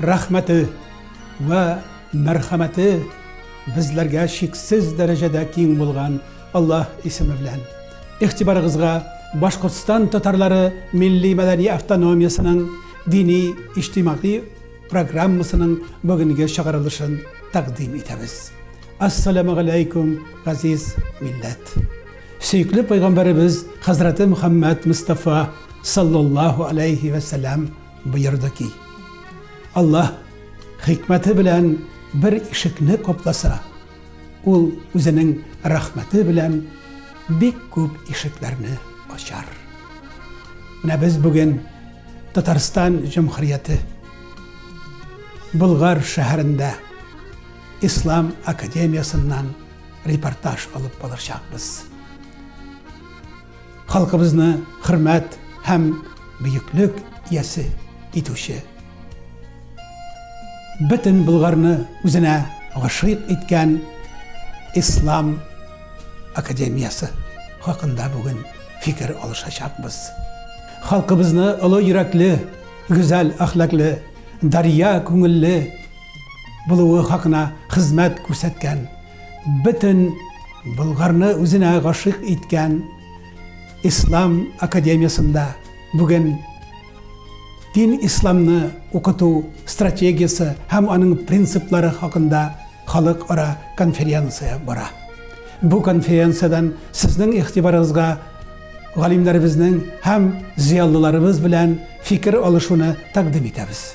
Рәхмәте вә мәрхәмәте безләргә чиксез дәрәҗәдә киң булган Аллаһ исеме белән. Игътибарыгызга Башкортстан татарлары милли-мәдәни автономиясенең дини-иҗтимагый программасының бүгенге чыгарылышын тәкъдим итәбез. Ассаламу галәйкүм, газиз милләт! Сөекле пәйгамбәребез хәзрәте Мөхәммәд Мостафа саллаллаһу аләйһи вә сәлам боерды ки, Аллаһ хикмәте белән бер ишекне капласа, ул үзенең рәхмәте белән бик күп ишекләрне ачар. Менә без бүген Татарстан Җөмһүрияте Болгар шәһәрендә Ислам академиясеннән репортаж алып калачакбыз. Халкыбызны хөрмәт һәм бөеклек иясе итүче, бөтен Болгарны үзенә гашыйк иткән Ислам академиясе хакында бүген фикер алышачакбыз. Халкыбызны олы йөрәкле, гүзәл әхлаклы, дарья күңелле булуы хакына хезмәт күрсәткән бөтен Болгарны үзенә гашыйк иткән Ислам академиясендә бүген дин исламны укыту стратегиясе һәм аның принциплары хакында халыкара конференция бара. Бу конференциядән сезнең игътибарыгызга галимнәребезнең һәм зыялыларыбыз белән фикер алышуны тәкъдим итәбез.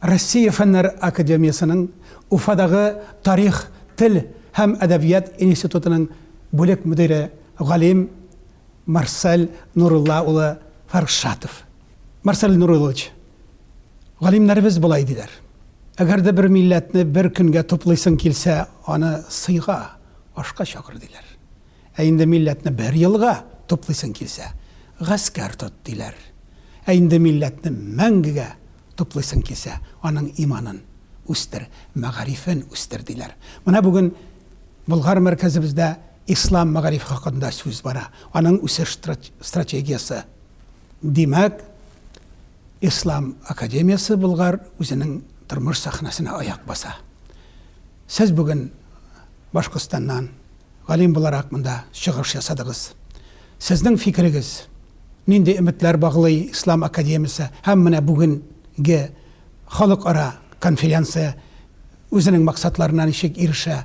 Россия Фәннәр академиясенең Уфадагы тарих, тел һәм әдәбият институтының бүлек мөдире, галим Марсель Нурулла улы Фаршатов. Марсель Нуруллович, галимнәребез болай диләр, Әгәр дә бер милләтне бер көнгә туплыйсың килсә, аны сыйга, ашка чакыр, диләр. Ә инде милләтне бер елга туплыйсың килсә, гаскәр тот, диләр. Ә инде милләтне мәңгегә туплыйсың килсә, аның иманын үстер, мәгарифен үстер, диләр. Менә бүген Болгар мәркәзебездә ислам мәгарифе хакында сүз бара, аның үсеш стратегиясе. Димәк, Ислам академиясе Болгар үзенең тормыш сәхнәсенә аяк баса. Сез бүген Башкортстаннан галим буларак монда чыгыш ясадыгыз. Сезнең фикерегез, нинди өметләр баглый Ислам академиясе һәм менә бүгенге халыкара конференция үзенең максатларына ничек ирешә?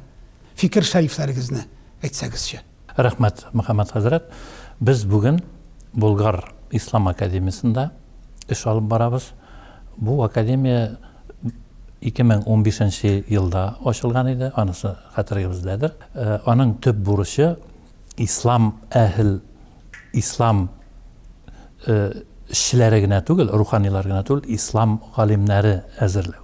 Фикер-шәрифләрегезне әйтсәгезче. Рәхмәт, Мөхәммәт хәзрәт. Без бүген Болгар ислам академиясендә эш алып барабыз. Бу академия 2015 елда ачылган иде, анысы хәтерегездәдер. Аның төп бурычы ислам әһел, ислам эшчеләре генә түгел, руханилар гына түгел, ислам галимнәре әзерләү.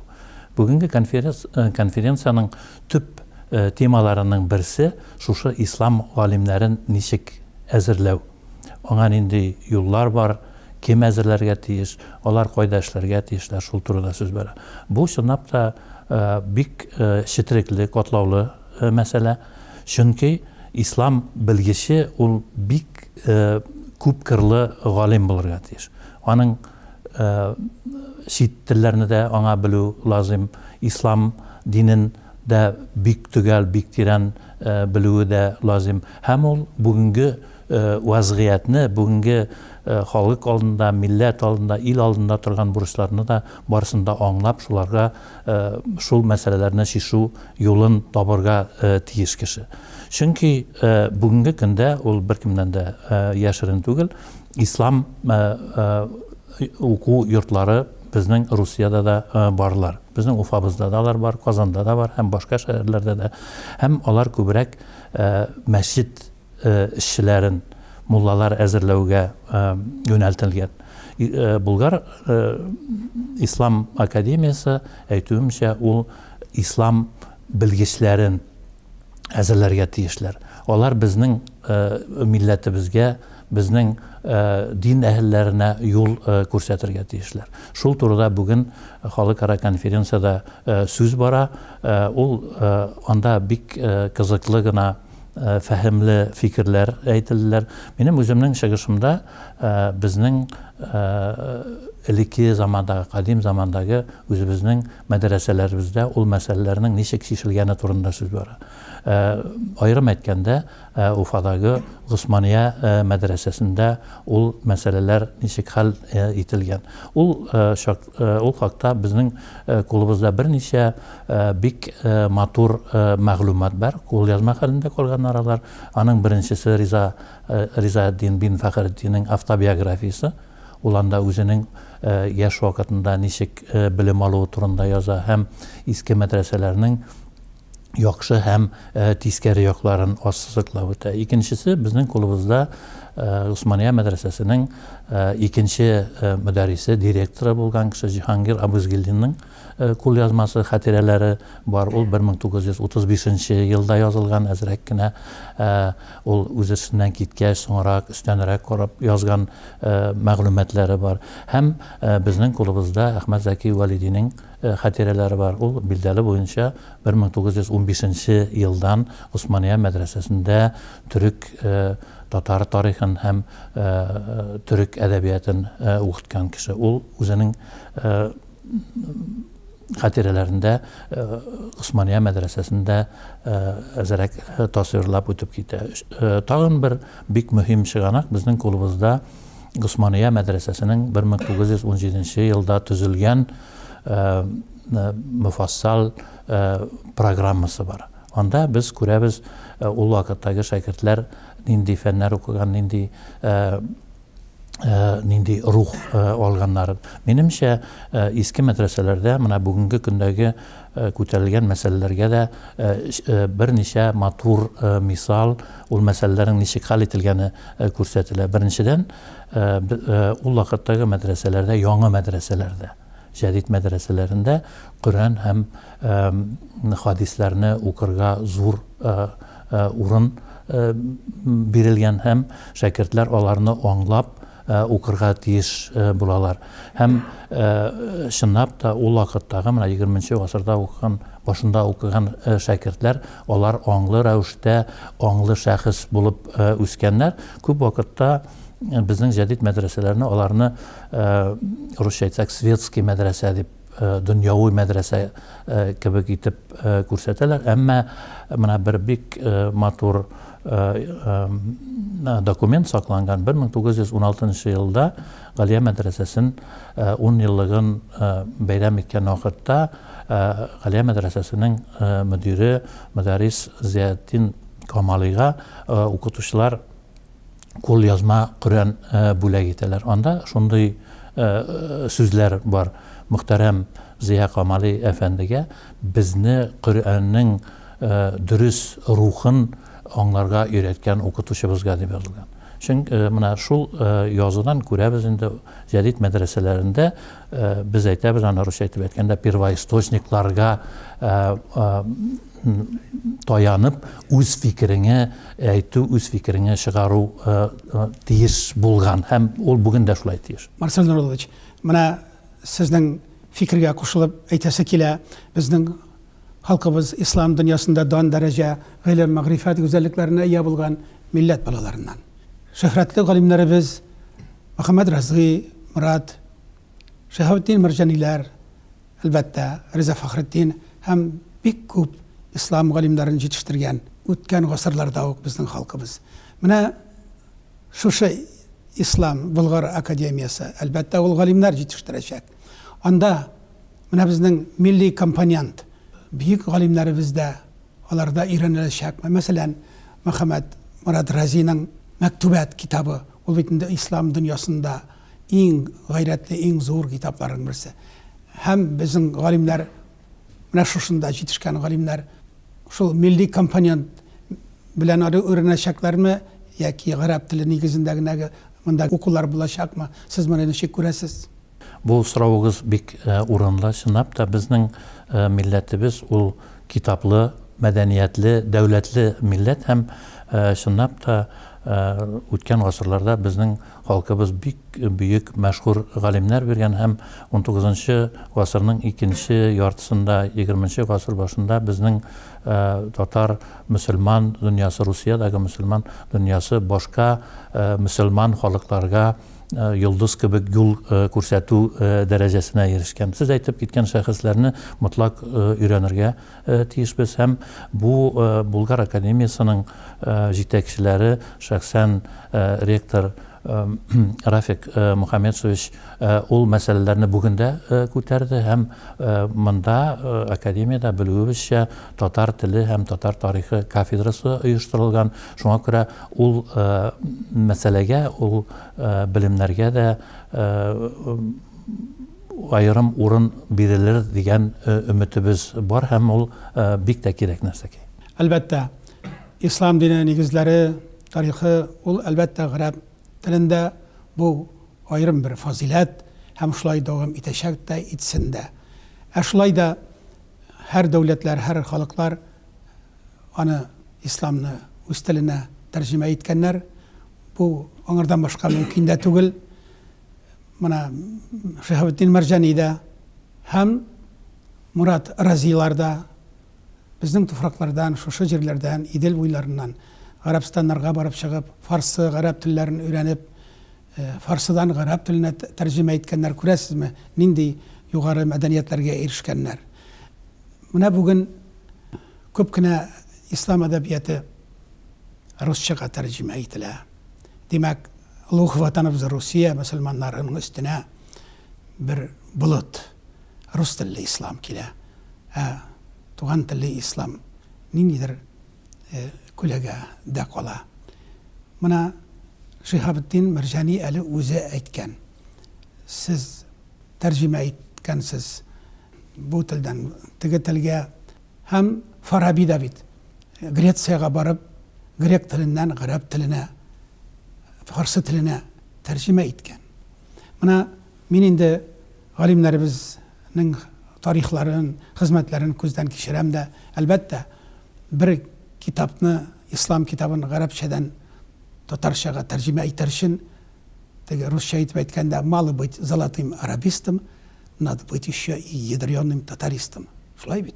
Бүгенге конференциянең төп темаларының берсе шушы ислам галимнәрен ничек әзерләү. Аңа нинди юллар бар, кем әзерләргә тиеш, алар кайда эшләргә тиешләр, шул турыда сүз бара. Бу чынлап та бик четерекле, катлаулы мәсьәлә, чөнки ислам белгече ул бик күп кырлы галим булырга тиеш. Аның чит телләрне дә аңа белү лазыйм, ислам динен дә бик төгәл, бик тирән белүе дә лазыйм. Һәм ул бүгенге вазгыятьне, бүгенге халык алдында, милләт алдында, ил алдында торган бурычларны да барысын да аңлап, шуларга шул мәсьәләләрне чишү юлын табырга тиеш кеше. Чөнки бүгенге көндә ул беркемнән дә яшерен түгел, ислам уку йортлары безнең Русиядә дә барлар. Безнең Уфабызда да алар бар, Казанда да бар һәм башка шәһәрләрдә дә. Һәм алар күбрәк мәчет эшчеләрен муллалар әзерләүгә юнәлтелгән. Болгар ислам академиясе, әйтүемчә, ул ислам белгечләрен әзерләргә тиешләр. Алар безнең милләтебезгә, безнең дин әһелләренә юл күрсәтергә тиешләр. Шул турыда бүген халыкара конференциядә сүз бара. Ул анда бик кызыклы гына фәһемле фикерләр әйтелделәр. Минем үземнең чыгышымда безнең элекке замандагы, кадим замандагы үзебезнең мәдрәсәләребездә ул мәсьәләләрнең ничек чишелгәне турында сүз бара. Аерым әйткәндә, Уфадагы Госмания мәдрәсәсендә ул мәсьәләләр ничек хәл ителгән. Ул хакта безнең клубыбызда берничә Бик матур мәгълүмат бар, кулъязма хәлендә калганнар алар. Аның беренчесе Риза Ризаэддин бин Фәхреддиннең автобиографиясе. Ул анда үзенең яшь вакытында ничек белем алуы турында яза һәм иске мәдрәсәләрнең яхшы һәм тискәре якларын ассызыклап үтә. Икенчесе безнең кулыбызда Госмания мәдрәсәсенең икенче мөдәррисе, директоры булган кеше Җиһангир Абызгилдинның Кулъязмасы, хатирәләре бар. Ул 1935 нче елда язылган, әзрәк кенә. Ул үзешеннән киткәч, соңрак, өстәнрәк карап язган мәгълүматлары бар. Һәм безнең кулыбызда Әхмәт Зәки Вәлидинең хатирәләре бар. Ул, билдәле буенча, 1915 нче елдан Госмания мәдрәсәсендә төрек, татар тарихын һәм төрек әдәбиятын укыткан кеше. Ул үзенең хатирәләрендә Госмания мәдрәсәсендә әзерәк тасвирлап үтеп китә. Тагын бер бик мөһим чыганак безнең кулыбызда Госмания мәдрәсәсенең 1917 елда төзелгән мөфассал программасы бар. Анда без күрәбез, ул вакыттагы шәкертләр нинди фәннәр укыган, нинди нинди рух алганнарын. Минемчә, иске мәдрәсәләрдә менә бүгенге көндәге күтәрелгән мәсьәләләргә дә берничә матур мисал, ул мәсьәләләрнең ничек хәл ителгәне күрсәтелә. Беренчедән, ул вакыттагы мәдрәсәләрдә, яңа мәдрәсәләрдә, Җәдит мәдрәсәләрендә Коръән һәм хадисләрне укырга зур урын бирелгән һәм шәкертләр аларны аңлап укырга тиеш булалар. Һәм чынлап та ул вакыттагы менә 20 нче гасырда укыган, башында укыган шәкертләр, алар аңлы рәвештә, аңлы шәхес булып үскәннәр. Күп вакытта безнең җәдит мәдрәсәләрне аларны Э, русча әйтсәк светский мәдрәсә дип э, дөньяви мәдрәсә э, кебек итеп күрсәтәләр әмма менә бер бик матур документ сакланган 1916 елда галия мәдрәсәсен 10 еллыгын бәйрәм иткән вакытта галия мәдрәсәсенең мөдире мөдәрис зиятдин камалига укытучылар кулъязма Коръән бүләк итәләр. Анда шундый сүзләр бар, Мөхтәрәм Зыя Камали әфәндегә безне Коръәннең дөрес рухын аңларга өйрәткән укытучыбызга дип язылган. Чөнки менә шул язудан күрәбез инде, җәдит мәдрәсәләрендә без әйтәбез аны русча итеп әйткәндә первоисточникларга таянып үз фикереңә әйтү, үз фикереңә чыгару тиеш булган һәм ул бүген дә шулай тиеш. Марсель Нуруллович, менә сезнең фикергә кушылып әйтәсе килә, безнең халкыбыз ислам дөньясында дан дәрәҗә, гыйлем, мәгърифәт гүзәллекләренә ия булган милләт балаларыннан. Шөһрәтле галимнәребез Мөхәммәд Разый, Морат, Шиһабетдин Мәрҗаниләр, Әлбәттә, Риза Фәхретдин һәм бик күп ислам галимнәрен җитештергән үткән гасырларда ук безнең халкыбыз. Менә шушы Ислам Болгар академиясе, әлбәттә, ул галимнәр җитештерәчәк. Анда менә безнең милли компонент, бөек галимнәребез дә аларда өйрәнеләчәк. Мәсәлән, Мөхәммәд Морад Разиның Мәктүбәт китабы, ул бит инде ислам дөньясында Иң гайрәтле, иң зур китапларның берсе. Һәм безнең галимнәр, менә шушында җитешкән галимнәр, шул милли компонент белән ары өйрәнәчәкләрме, яки гарәп теле нигезендә генә монда укулар булачакмы, сез моны ничек күрәсез? Бу соравыгыз бик урынлы. Чынлап та, безнең милләтебез ул китаплы, мәдәниятле, дәүләтле милләт һәм, чынлап та, үткән гасырларда безнең Халкыбыз бик бөек, мәшһүр галимнәр биргән һәм унтугызынчы гасырның икенче яртысында, егерменче гасыр башында безнең татар мөселман дөньясы, Русиядәге мөселман дөньясы башка мөселман халыкларга йолдыз кебек юл күрсәтү дәрәҗәсенә ирешкән. Сез әйтеп киткән шәхесләрне мотлак өйрәнергә тиешбез һәм бу Булгар академиясенең җитәкчеләре, шәхсән ректор Рафик Мухаммедшевич ул мәсьәләләрне бүген дә күтәрде һәм монда академиядә белүебезчә татар теле һәм татар тарихы кафедрасы оештырылган. Шуңа күрә ул мәсьәләгә, ул белемнәргә дә аерым урын бирелер дигән өметебез бар һәм ул бик тә кирәк нәрсә ки. Әлбәттә, ислам дине нигезләре, тарихы, ул, әлбәттә, гарәп телендә, бу аерым бер фазыйләт һәм шулай дәвам итәчәк тә, итсен дә. Ә шулай да һәр дәүләтләр, һәр халыклар аны, исламны, үз теленә тәрҗемә иткәннәр, бу аңардан башка мөмкин дә түгел. мына Шиһабетдин Мәрҗани да һәм Мурат Разилар да безнең туфраклардан, шушы җирләрдән, Идел буйларыннан гарәбстаннарга барып чыгып, фарсы, гарәп телләрен өйрәнеп, э, фарсыдан гарәп теленә тәрҗемә иткәннәр. Күрәсезме, нинди югары мәдәниятләргә ирешкәннәр. Менә бүген күп кенә ислам әдәбияты русчага тәрҗемә ителә. Димәк, олуг Ватаныбыз Русия мөселманнарының өстенә бер болыт, рус телле ислам килә. Ә туган телле ислам ниндидер күләгә дә кала. Моны Шиһабетдин Мәрҗани әле үзе әйткән. Сез тәрҗемә иткәнсез бу телдән теге телгә. Һәм Фараби да бит Грециягә барып, грек теленнән гарәп теленә, фарсы теленә тәрҗемә иткән. Менә мин инде галимнәребезнең тарихларын, хезмәтләрен күздән кичерәм дә, әлбәттә, бер китапны, ислам китабын гарәпчәдән татарчага тәрҗемә итәр өчен, теге русча итеп әйткәндә, мало быть золотым арабистом, надо быть еще и ядреным татаристом. Шулай бит.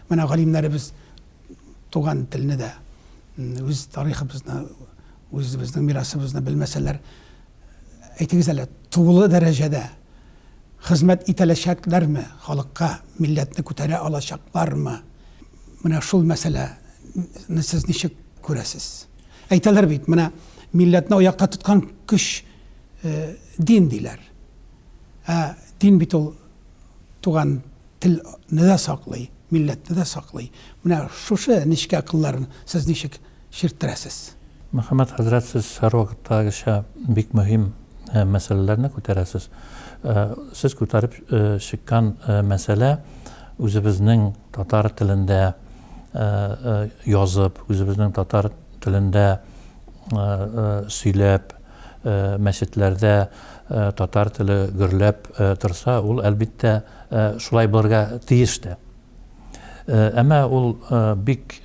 Менә галимнәребез туган телне дә, үз тарихыбызны, үзебезнең мирасыбызны белмәсәләр, әйтегез әле, тулы дәрәҗәдә хезмәт итәләчәкләрме халыкка, милләтне күтәрә алачаклармы? Менә шул мәсьәләне сез ничек күрәсез? Әйтәләр бит, менә милләтне аякта тоткан көч э, дин диләр. Ә дин бит ул туган тел не дә саклый, милләтне дә саклый. Менә шушы нечкә кылларын сез ничек чирттерәсез? Мөхәммәт хәзрәт, сез һәрвакыттагыча бик мөһим мәсьәләләрне күтәрәсез. Сез күтәреп чыккан мәсьәлә үзебезнең татар телендә язып, үзебезнең татар телендә сөйләп, мәчетләрдә татар теле гөрләп торса, ул, әлбиттә, шулай булырга тиеш тә. Әмма ул бик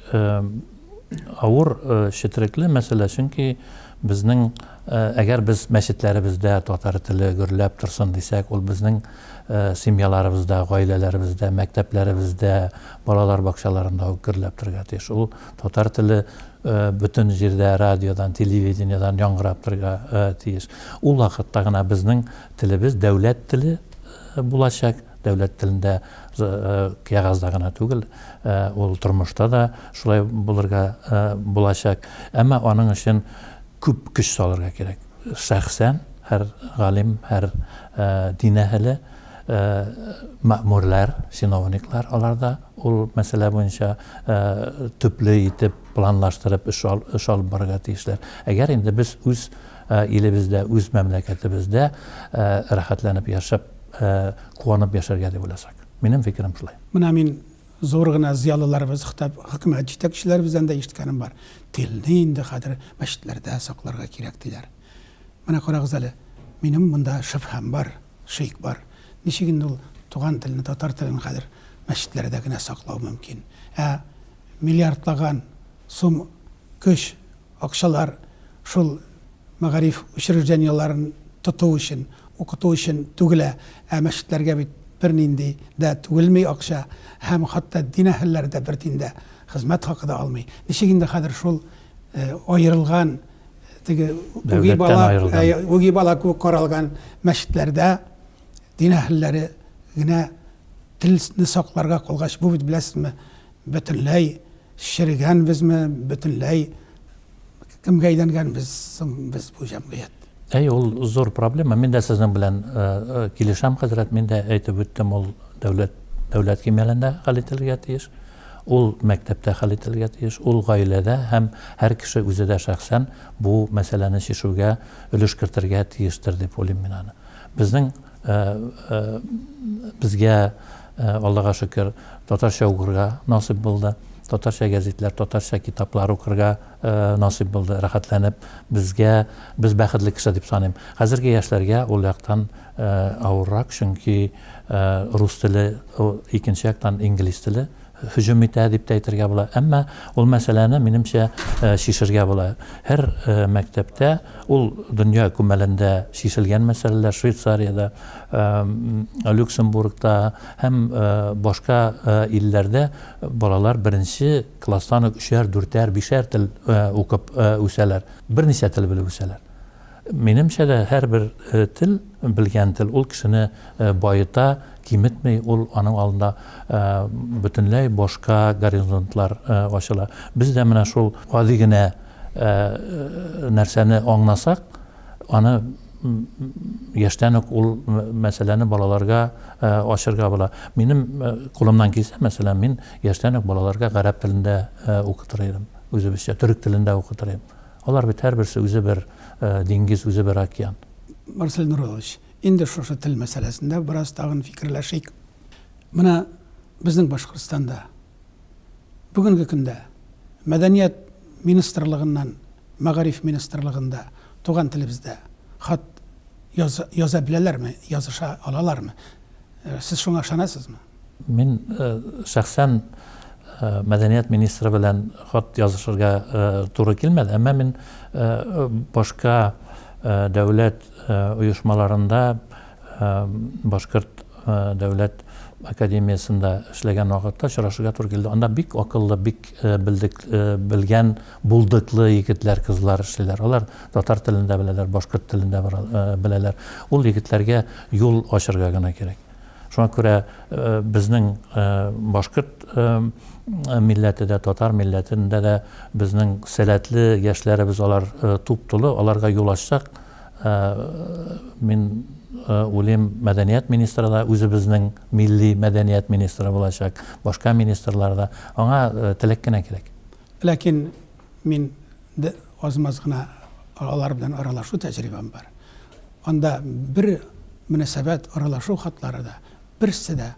авыр, четерекле мәсьәлә, чөнки безнең, әгәр без мәчетләребездә татар теле гөрләп торсын дисәк, ул безнең семьяларыбызда, гаиләләребездә, мәктәпләребездә, балалар бакчаларында ук гөрләп торырга тиеш. Ул Татар теле бөтен җирдә радиодан, телевидениедән яңгырап торырга тиеш. Ул вакытта гына безнең телебез дәүләт теле булачак. Дәүләт телендә кәгазьдә гына түгел, ул тормышта да шулай булырга булачак. Әмма аның өчен күп көч салырга кирәк. Шәхсән һәр галим, һәр дин әһеле мәэмүрләр, чиновниклар алар да ул мәсьәлә буенча төпле итеп планлаштырып эш алып барырга тиешләр. Әгәр инде без үз илебездә, үз мәмләкәтебездә рәхәтләнеп яшәп, куанып яшәргә дип уйласак. Минем фикерем шулай. Менә мин зур гына зыялыларыбыз, хәтта хөкүмәт җитәкчеләребездән дә ишеткәнем бар, телне инде хәзер мәчетләрдә сакларга кирәк, диләр. Менә карагыз әле, минем монда шөбһәм бар, шик бар. Ничек инде ул туган телне, татар телен хәзер мәчетләрдә генә саклау мөмкин? Ә миллиардлаган сум көч, акчалар шул мәгариф учреждениеләрен тоту өчен, укыту өчен түгелә, ә мәчетләргә бит бернинди дә түгелми акча, һәм хәтта дин әһелләре дә бер тин дә хезмәт хакы да алмый. Ничек инде хәзер шул э, аерылган теге үги бала э, үги бала кебек каралган мәчетләрдә дин әһелләре генә телне сакларга калгач бу бит беләсезме бөтенләй шерегәнбезме бөтенләй кемгә әйләнгәнбез соң без бу җәмгыять Әй, ул зур проблема. Мин дә сезнең белән килешәм, хәзрәт. Мин дә әйтеп үттем, ул дәүләт дәүләт кимәлендә хәл ителергә тиеш. Ул мәктәптә хәл ителергә тиеш, ул гаиләдә һәм һәр кеше үзе дә шәхсән бу мәсьәләне чишүгә өлеш кертергә тиештер дип уйлыйм мин аны. Безнең безгә, Аллага шөкер, татарча укырга насыйп булды. Татарча гәзитләр, татарча китаплар укырга насыйп булды, рәхәтләнеп, безгә, без бәхетле кеше дип саныйм. Хәзерге яшьләргә ул яктан авыррак, чөнки рус теле, икенче яктан инглиз теле һөҗүм итә дип тә әйтергә була. Әмма ул мәсьәләне, минемчә, чишергә була. Һәр мәктәптә ул дөнья күмәлендә чишелгән мәсьәләләр, Швейцариядә, Люксембургта һәм башка илләрдә балалар беренче Класстан ук өчәр, дүртәр, бишәр тел укып үсәләр. Берничә тел белеп үсәләр. Минемчә дә, һәрбер тел, белгән тел, ул кешене баета, киметми, ул аның алдында бөтенләй башка горизонтлар ачыла. Без дә менә шул гади генә нәрсәне аңласак, Аны яшьтән үк ул мәсьәләне балаларга ачырга була. Минем кулымнан килсә, мәсәлән, мин яшьтән үк балаларга гарәп телендә укытыр идем, үзебезчә, төрек телендә укытыр идем. Алар бит һәрберсе үзе бер диңгез, үзе бер океан. Марсель Нуруллович, инде шушы тел мәсьәләсендә бераз тагын фикерләшик. Менә безнең Башкортстанда Бүгенге көндә Мәдәният министрлыгыннан Мәгариф министрлыгында туган телебездә хат яз, яза беләләрме, языша алалармы? Сез шуңа ышанасызмы? Мин шәхсән мәдәният министры белән хат язышырга туры килмәде, әмма мин башка дәүләт оешмаларында Башкорт дәүләт академиясендә эшләгән вакытта очрашырга туры килде. Анда бик акыллы, бик белдек, белгән, булдыклы егетләр, кызлар эшлиләр. Алар татар телен дә беләләр, башкорт телен дә беләләр. Ул егетләргә юл ачырга гына кирәк. Шуңа күрә безнең башкорт милләте дә, татар милләтендә дә безнең сәләтле яшьләребез алар туп-тулы, аларга юл ачсак, Мин уйлыйм, мәдәният министры да үзебезнең милли мәдәният министры булачак, башка министрлар да. Аңа теләк кенә кирәк. Ләкин мин дә аз-маз гына алар белән аралашу тәҗрибәм бар. Анда бер мөнәсәбәт, аралашу хатлары да берсе дә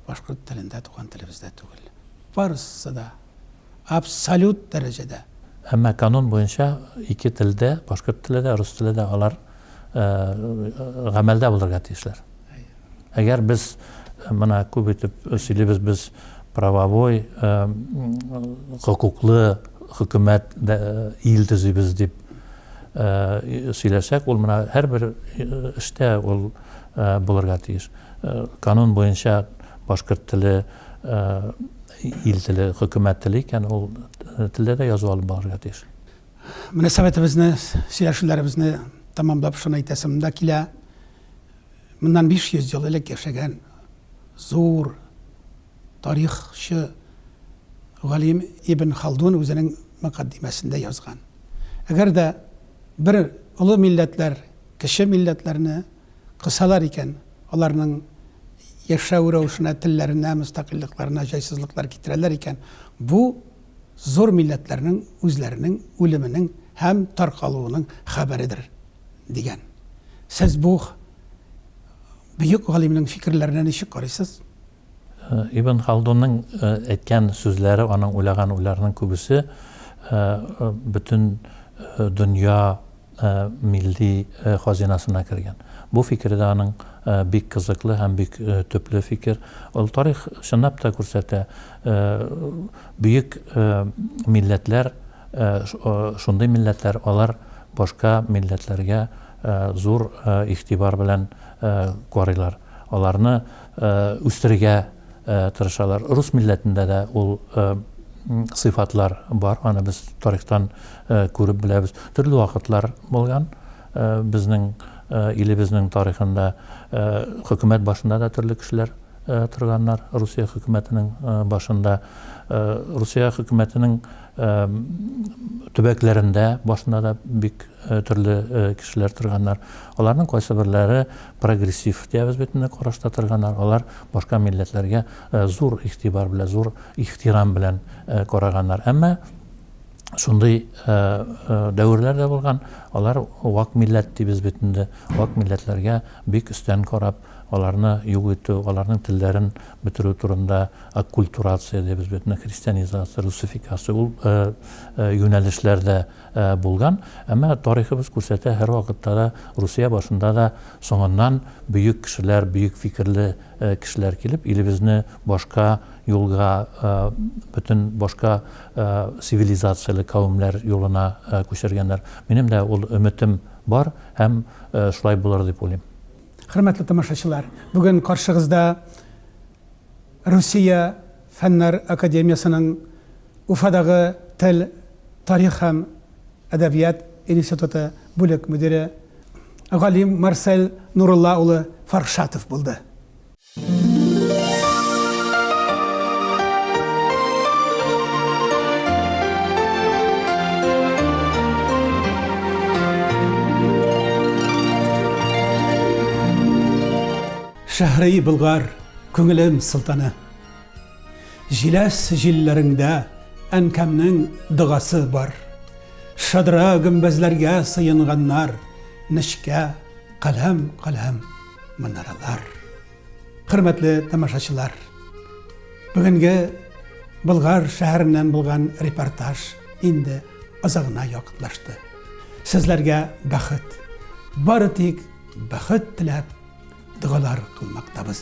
башкорт телендә, туган телебездә түгел. Барысы да абсолют дәрәҗәдә. Әмма канун буенча ике телдә, башкорт теле дә, рус теле дә алар гамәлдә булырга тиешләр. Әгәр без моны күп итеп сөйлибез, без правовой, хокуклы хөкүмәт, ил төзибез дип сөйләсәк, ул менә һәрбер эштә ул булырга тиеш. Канун буенча башкорт теле Ил теле, хөкүмәт теле икән, ул телдә дә язу алып барырга тиеш. Мөнәсәбәтебезне, сөйләшүләребезне тәмамлап шуны әйтәсем дә килә. Моннан 500 ел элек яшәгән зур тарихчы галим Ибн Халдун үзенең мөкаддимәсендә язган. Әгәр дә бер олы милләтләр кече милләтләрне кысалар икән, аларның яшәү рәвешенә, телләренә, мөстәкыйльлекләренә җайсызлыклар китерәләр икән, бу зур милләтләрнең үзләренең үлеменең һәм таркалуының хәбәредер, дигән. Сез бу бөек галимнең фикерләренә ничек карыйсыз? Ибн Халдунның әйткән сүзләре, аның уйлаган уйларының күбесе бөтен дөнья милли хазинасына кергән. Бу фикере дә аның бик кызыклы һәм бик төпле фикер. Ул тарих чынлап та күрсәтә, бөек милләтләр, шундый милләтләр, алар башка милләтләргә зур игътибар белән карыйлар. Аларны үстерергә тырышалар. Рус милләтендә дә ул сыйфатлар бар, аны без тарихтан күреп беләбез. Төрле вакытлар булган безнең илебезнең тарихында хөкүмәт башында да төрле кешеләр торганнар, Русия хөкүмәтенең башында, Русия хөкүмәтенең төбәкләрендә башында да бик төрле кешеләр торганнар. Аларның кайсыберләре прогрессив диябез бит инде караш татырганнар, алар башка милләтләргә зур игътибар белән, зур ихтирам белән караганнар. Әмма шундый дәверләр дә булган, алар вак милләт дибез бит инде, вак милләтләргә бик өстән карап, аларны юк итү, аларның телләрен бетерү турында аккультурация дибез бит инде, христианизация, русификация, ул юнәлешләр дә Булган, әмма тарихыбыз күрсәтә, һәрвакытта да Русия башында да соңыннан бөек кешеләр, бөек фикерле кешеләр килеп, илебезне башка юлга, бөтен башка цивилизацияле кавемнәр юлына күчергәннәр. Минем дә ул өметем бар һәм шулай булыр дип уйлыйм. Хөрмәтле тамашачылар, бүген каршыгызда Русия Фәннәр академиясенең Уфадагы тел, тарих һәм әдәбият институты бүлек мөдире, галим Марсель Нурулла улы Фаршатов булды. Шәһри Болгар, күңелем солтаны. Җиләс җилләреңдә әнкәмнең догасы бар. Шадра гөмбәзләргә сыенганнар, нечкә, каләм-каләм манаралар. Хөрмәтле тамашачылар! Бүгенге Болгар шәһәреннән булган репортаж инде азагына якынлашты. Сезләргә бәхет, бары тик бәхет теләп, догалар кылмактабыз.